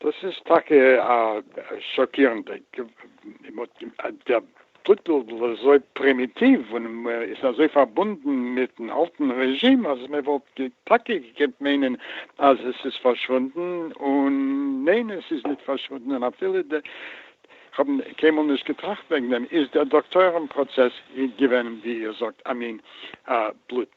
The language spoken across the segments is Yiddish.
דאס איז טאקע א שאקירנדע טיטל, אזוי פרימיטיוו און איז אזוי פארבונדן מיטן אלטן רעזשים אז מען וואלט טאקע געקענט מיינען אז עס איז פארשוואונדן, און ניין עס איז נישט פארשוואונדן, און אפילו די, כ'האב קיינמאל נישט געטראכט וועגן דעם, איז דער דאקטוירים פראצעס געווען ווי איר זאגט א מין בלוט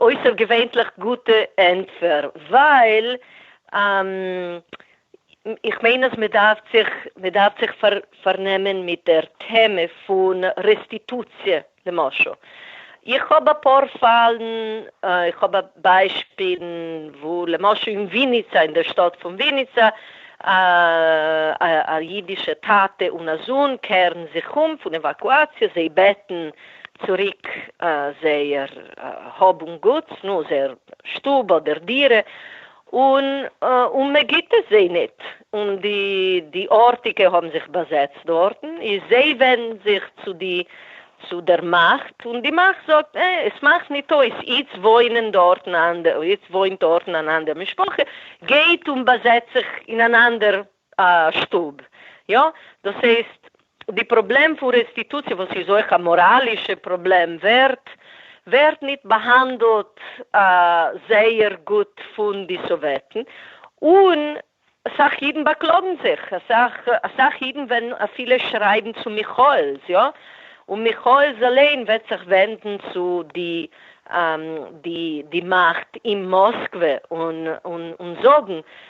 אויסערגעווענליך גוטע ענטפער, ווייל איך מיין אז מ'דארף זיך מ'דארף זיך פארנעמען מיט דער טעמע פון רעסטיטוציע, למשל איך האב אפאר פאלן, איך האב ביישפילן וואו למשל אין וויניצא, אין דער שטאט פון וויניצא, א אידישע טאטע און א זון קערן זיך אום פון עוואקואציע, זיי בעטן צוריק זייער האב און גוטס, נו, זייער שטוב אדער דירה, און מען גיט עס זיי ניט, און די ארטיקע האבן זיך באזעצט דארטן, איז זיי ווענדן זיך צו די צו דער מאכט, און די מאכט זאגט, אה, עס מאכט ניט אויס, איצט וואוינען דארטן אנדער, איצט וואוינט דארטן אן אנדער משפחה, גייט און באזעצט זיך אין אן אנדער א שטוב. יא? דאס הייסט, די פראבלעם פון רעסטיטוציע, וואס איז אויך א מאראלישע פראבלעם, ווערט ווערט ניט באהאנדלט זייער גוט פון די סאוועטן, און אסאך אידן באקלאגן זיך, אסאך אסאך אידן וועלן אפילו שרייבן צו מיכאעל'ס, יא? און מיכאעל'ס אליין וועט זיך ווענדן צו די די די מאכט אין מאסקווע און און און זאגן,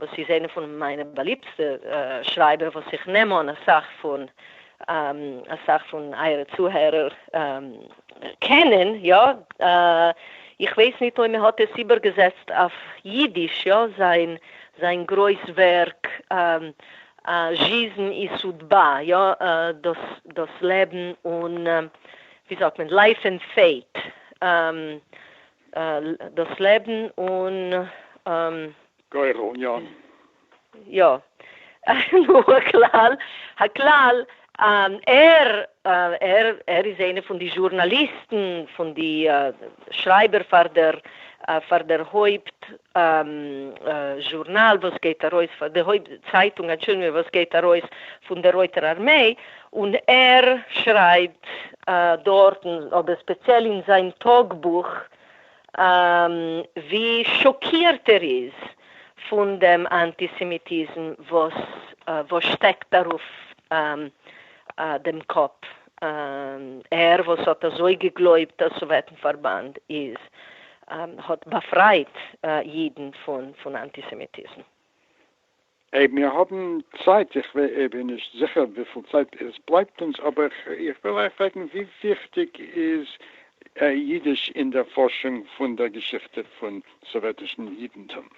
וואס איז איינע פון מיינע באליבטסטע שרייבער וואס איך נעם אן אסאך פון אסאך פון אייערע צוהערער קענען יא, איך ווייס ניט אויב מען האט עס איבערגעזעצט אויף יידיש יא, זיין זיין גרויס ווערק זשיזן אי סודבא יא, דאס דאס לעבן און ווי זאגט מען לייף אין פעיט דאס לעבן און. גורל און יא. יא. נו, הכלל, הכלל, ער, ער, ער איז איינע פון די זשורנאליסטן, פון די שרייבער פאר דער, פאר דער הויפט זשורנאל וואס גייט ארויס, פאר די הויפט צייטונג, אנטשולדיגונג, וואס גייט ארויס פון דער רויטער ארמעי, און ער שרייבט דארטן, אבער ספעציעל אין זיין טאגבוך, ווי שאקירט ער איז פון דעם אנטיסעמיטיזם וואס שטעקט ארויף דעם קאפ, ער וואס האט אזוי געגלויבט אז סאוועטן פארבאנד איז האט באפרייט אידן פון אנטיסעמיטיזם. אייב מיר האבן צייט, איך בין נישט זיכער וויפיל צייט עס בלייבט אונז, אבער איך וויל אייך פרעגן, ווי וויכטיג איז אידיש אין דער פארשונג פון דער געשיכטע פון סאוועטישן אידנטום?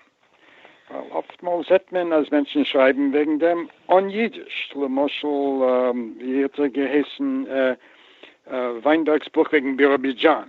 ווייל אפטמאל זעט מען אז מענטשן שרייבן וועגן דעם אן אידיש, למשל ווי האט ער געהייסן, וויינבערג'ס בוך וועגן ביראבידזשאן.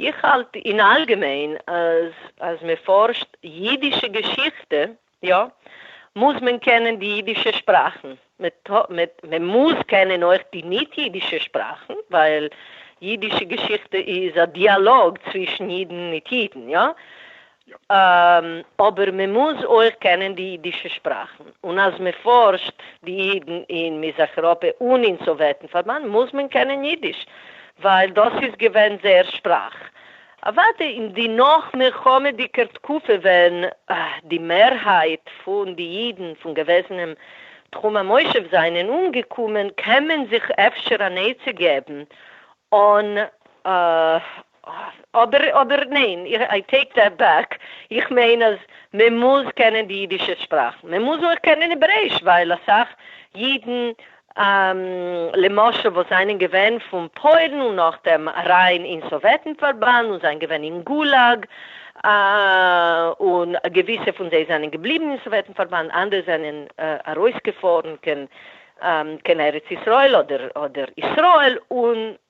איך האלט אין אלגעמיין אז אז מען פארשט אידישע געשיכטע יא מוז מען קענען די אידישע שפראכן, מען מוז קענען אויך די ניט אידישע שפראכן ווייל אידישע געשיכטע איז א דיאלאג צווישן אידן מיט אידן יא אבער מען מוז אויך קענען די אידישע שפראכן, און אז מען פארשט די אידן אין מזרח אירופע און אין סאוועטן פארבאנד מוז מען קענען אידיש, ווייל דאס איז געווען זייער שפראך. אוודאי אין די נאך מלחמה'דיגער תקופה ווען די מערהייט פון די אידן פון געוועזענעם תחום המושב זענען אומגעקומען קען מען זיך אפשר אן עצה געבן אן אדער אדער ניין, איי טעיק דעט בעק, איך מיין אז מען מוז קענען די אידישע שפראך, מען מוז אויך קענען העברעיש, ווייל אסאך אידן למשל וואס זענען געווען פון פוילן און נאכדעם אריין אין סאוועטן פארבאנד און זענען געווען אין גולאג, און געוויסע פון זיי זענען געבליבן אין סאוועטן פארבאנד, אנדערע זענען ארויסגעפארן קען ארץ ישראל אדער אדער ישראל און